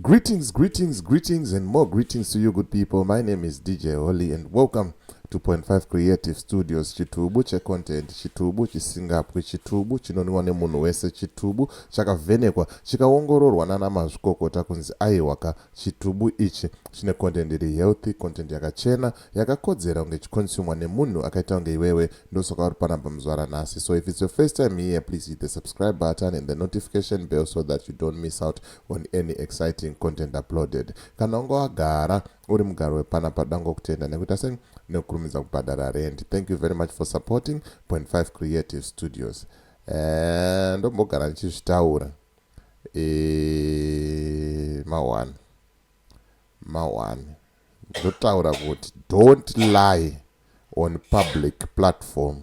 Greetings, greetings, greetings and more greetings to you good people. My name is DJ Holly and welcome to Point 5 Creative Studios. Chitubu checontent, chitubu chisingapwi, chitubu chinoniwa nemunhu wese, chitubu chakavhenekwa, chikaongororwa nana mazvikokota kunzi aiwaka chitubu ichi chine content iri healthy, content yakachena, yakakodzera kunge chikonsumwa nemunhu akaita kunge iwewe, ndosoka uri panapa muzvara nhasi. So if it's your first time here, please hit the subscribe button and the notification bell so that you don't miss out on any exciting content uploaded kana unge wagara uri mugaro wepana padango kutenda nekuita sei nekukurumidza kubhadhara rent thank you very much for supporting point 5 creative studios eh, ndombogara ndichizvitaura eh, mawan mawan ndotaura kuti don't lie on public platform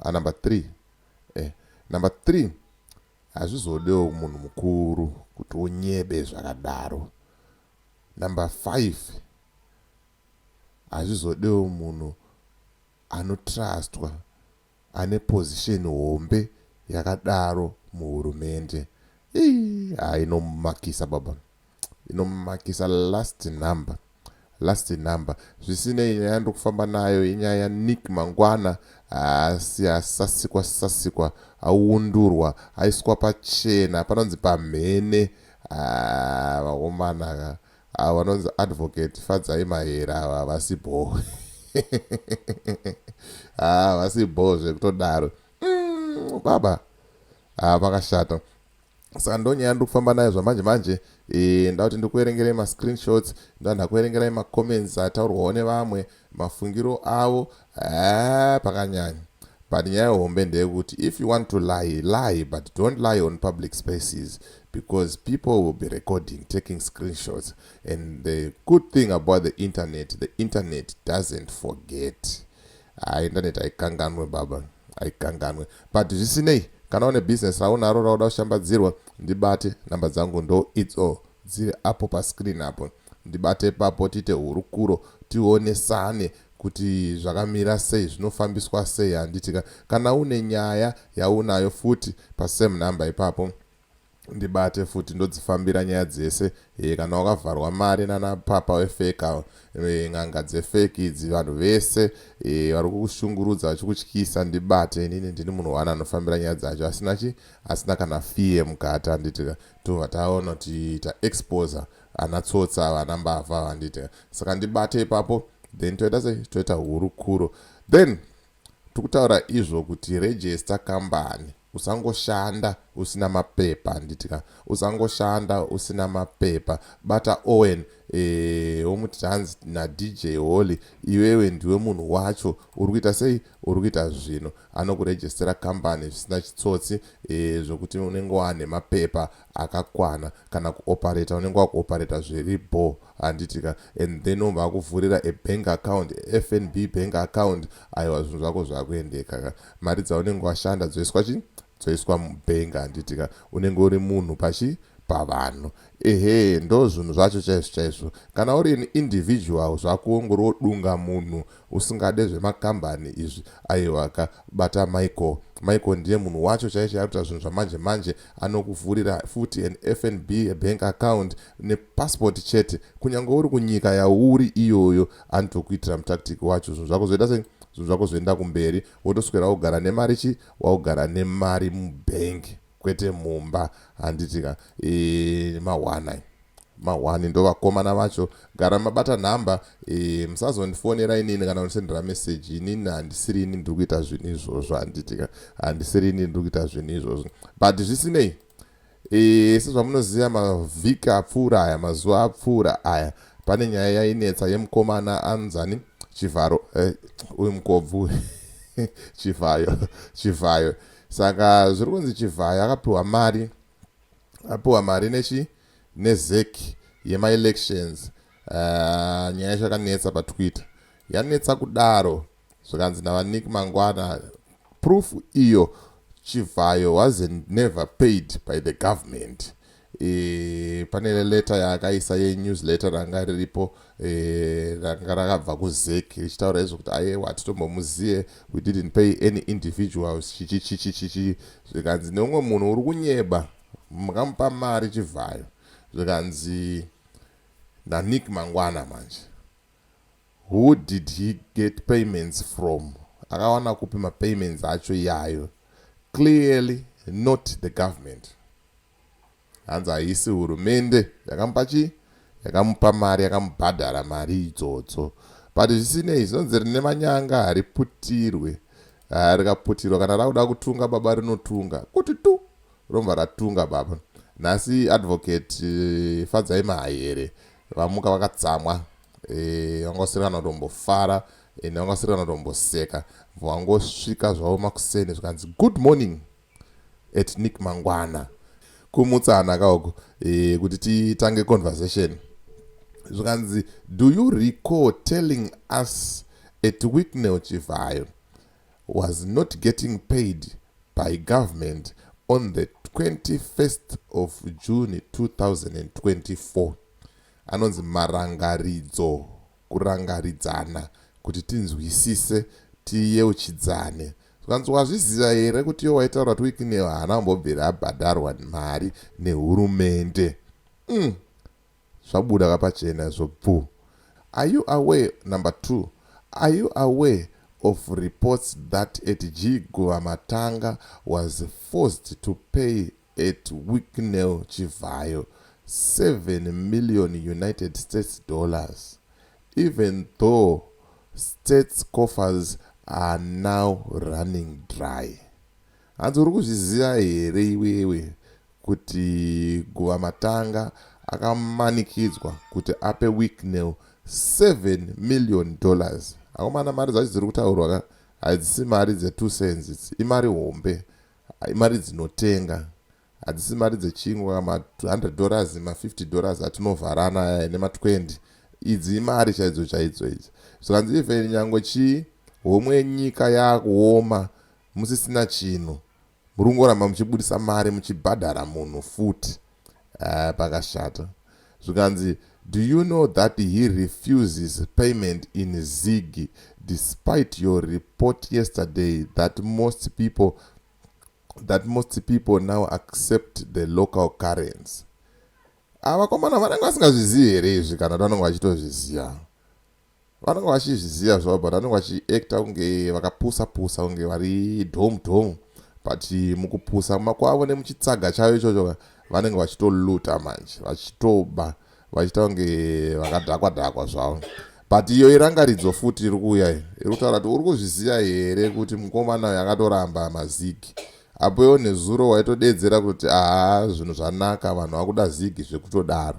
Ah number three eh number three hazvizodewo munhu mukuru kuti unyebe zvakadaro number five hazvizodewo munhu anotrustwa ane position hombe yakadaro muhurumende ii hainomakisa baba inomakisa last number last number zvisinei nyaya ndokufamba nayo inyaya yanick mangwana asi asasikwa sasikwa aundurwa aiswa pachena panonzi pamhene ah, vakomana ah, vanonzi advocate fadzai mahera ava vasi bho ah, vasi bho zvekutodaro mm, baba vakashata saka ndonyaya yandiri kufamba nayo zvamanje manje eh, ndauti ndiri kuverengerai mascreenshots ndaa ndakuverengerai macomments ataurwawo nevamwe mafungiro avo eh, pakanyanya but nyaya hombe ndeyekuti if you want to lie lie but don't lie on public spaces because people will be recording taking screenshots and the good thing about the internet the internet doesn't forget Haa internet haikanganwe baba haikanganwe but zvisinei kana une business raunaro rauda kushambadzirwa ndibate number dzangu ndo idzo dziri apo pascreen apo ndibate papo tiite hurukuro tionesane kuti zvakamira sei zvinofambiswa sei handitika kana une nyaya yaunayo futi pasame number ipapo ndibate futi ndodzifambira nyaya dzese e, kana wakavharwa mari nana papa wefake awo e, n'anga dzefake idzi vanhu vese e, vari kukushungurudza vachikutyisa ndibate inini ndini munhu wani anofambira nyaya dzacho asina chi asina kana fie mukati anditi tobva taona kuti taexposa ana tsotsa ava ana mbavha ava anditi saka ndibate ipapo then toita se toita hurukuro then Tiri kutaura izvo kuti register kambani usangoshanda usina mapepa handitika usangoshanda usina mapepa bata Owen eh womuti hanzi naDJ Holy iwewe ndiwe munhu wacho uri kuita sei uri kuita zvino anokurejestera kambani zvisina chitsotsi eh zvokuti unenge wane mapepa akakwana kana kuoperata unenge wakuoperata zviri bho Handiti ka and then obva akuvhurira a bank account, FNB bank account aiwa zvinhu zvako zvakuendeka ka. Mari dzaunenge washanda dzoiswa chii? Dzoiswa mubank handiti ka. Unenge uri munhu pachi? Pavanhu. Ehee ndozvinhu zvacho chaizvo chaizvo. Kana uri an individual zvakuwo ungori wodunga munhu Usingade zvemakambani izvi aiwaka bata Michael. Michael ndiye munhu wacho chaiye chaiye arikuita zvinhu zvamanje manje anokuvhurira futi an FNB bank account ne passport chete kunyange uri kunyika yauri iyoyo anotokuitira mutactic wacho zvinhu zvako zvoita sei zvinhu zvako zvoenda kumberi wotoswera wogara nemari chii waugara nemari mubank. Kwete mumba handiti ka eeh mahwani ayo. Mahwani ndovakomana vacho gara mabata number eeh musazondifonera inini kana kundisendera message inini handisiri ini ndiri kuita zvinhu izvozvo handiti ka handisiri ini ndiri kuita zvinhu izvozvo but zvisinei eeh sezvamunoziva mavhiki apfuura aya mazuva apfuura aya pane nyaya yainetsa yemukomana anzani chivharo eh, uyu mukobvu chivhayo chivhayo saka zviri kunzi chivhayo akapiwa mari apiwa mari nechi nezec yemaelections uh, nyaya yacho yakanetsa patwitter yanetsa kudaro zvikanzi navanik mangwana proof iyo chivhayo was never paid by the government e, pane leta yaakaisa yenewsletter ranga riripo e, ranga rakabva kuzek richitaura izvo kuti ayewa hatitombomuzive we didn't pay any individuals chichichichichichi zvikanzi neumwe munhu uri kunyeba makamupa mari chivhayo zvikanzi nanick mangwana manje who did he get payments from akawana kupi mapayments acho iyayo clearly not the government Hanzi haisi hurumende yakamupa chii? Yakamupa mari, yakamubhadhara mari idzodzo. But zvisinei, zvinonzi rine manyanga hariputirwe. Ah, rikaputirwa kana rakuda kutunga baba rinotunga. Kuti tu! Romva ratunga baba. Nhasi advocate eh, Fadzai Mahaere vamuka vakatsamwa. Eh, vanga vasiri kana kutombofara ende vanga vasiri kana kutomboseka. Vangosvika zvavo makuseni zvikanzi good morning. Ethnic mangwana. Kumutsana ka uku eh, kuti titange conversation zvikanzi do you recall telling us at wicknell chivhayo was not getting paid by government on the 21st of june 2024 anonzi marangaridzo kurangaridzana kuti tinzwisise tiyeuchidzane zvikanzi wazviziva here kuti iyo waitaura kuti wikinew haana kumbobvira abhadharwa mari nehurumende mm. zvabuda kapachena izvo bvu are you away number two are you away of reports that at g guva matanga was forced to pay at Wicknell Chivhayo 7 million United States dollars even though states coffers are now running dry. Hanzi uri kuzviziva here iwewe kuti guva matanga akamanikidzwa kuti ape Wicknell 7 million dollars. Akomana mari dzacho dziri kutaurwa ka hadzisi mari dze 2 cents idzi imari hombe Imari dzinotenga hadzisi mari dzechingwa ma 100 dollars ma 50 dollars atinovharana aya ene ma 20 idzi imari chaidzo chaidzo idzi zvikanzi even nyangwe chii homwe yenyika yakuoma musisina chinhu murungoramba muchibudisa mari muchibhadhara munhu futi Ahh pakashata. Zvikanzi do you know that he refuses payment in Zig despite your report yesterday that most people that most people now accept the local currency. Ava ah, komana vanenge vasingazvizivi here izvi kana vanenge vachitozviziva. vanenge vachizviziva zvavo but vanenge vachiacta kunge vakapusa pusa kunge vari dhomu dhomu but mukupusa makwavo nemuchitsaga chavo ichocho vanenge vachitoluta manje vachitoba vachiita kunge vakadhakwa dhakwa zvavo but iyo irangaridzo futi iri kuuya iyi iri kutaura kuti uri kuzviziva here kuti mukomana uyo akatoramba mazigi apo iwo nezuro waitodedzera kuti haa zvinhu zvanaka vanhu vakuda zigi zvekutodaro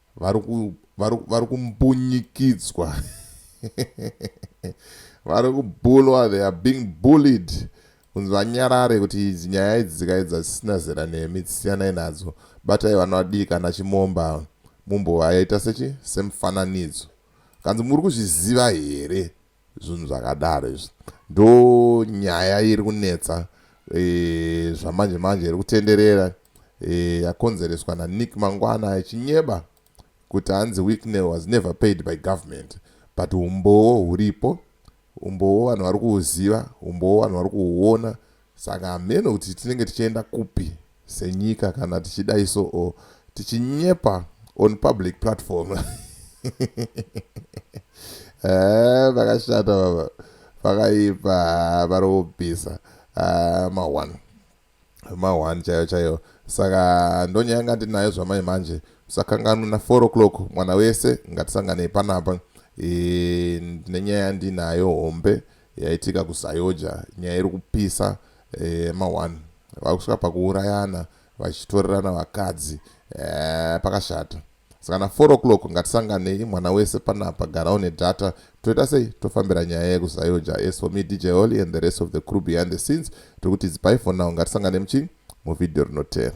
vari kumbunyikidzwa vari kubulwa they are being bullied kunzi vanyarare kuti idzi nyaya idzi dzikaedza dzisina zera nemi dzisiyanai nadzo batai vana vadii kana chimomba mumbovaita sechi semufananidzo kanzi muri kuzviziva here Zvinhu zvakadaro izvi ndo nyaya iri kunetsa e, zvamanje manje iri kutenderera e, yakonzereswa naNick Mangwana achinyeba kuti hanzi Wicknell was never paid by government but umbowo huripo umbowo vanhu vari kuuziva umbowo vanhu vari kuuona Saka hameno kuti tinenge tichienda kupi senyika kana tichidai so or tichinyepa on public platform. Eh, vakashata baba. Vakaipa vari kubvisa ah, ma one. Ma one chaiyo chaiyo. Saka ndonyanga ndinayo zvamai manje. Sakanganwa na 4 o'clock mwana wese ngatisanganei panapa. E, nenyaya ndinayo hombe Yaitika kuZayoja nyaya iri kupisa yema one vakusvika pakuurayana vachitorerana vakadzi eeh pakashata saka na four o'clock ngatisanganei mwana wese panapa gara une data toita sei tofambira nyaya yeku Zayoja as for me DJ Holly and the rest of the crew behind the scenes tiri kuti it's bye for now ngatisanganei muchii muvideo rinoteera.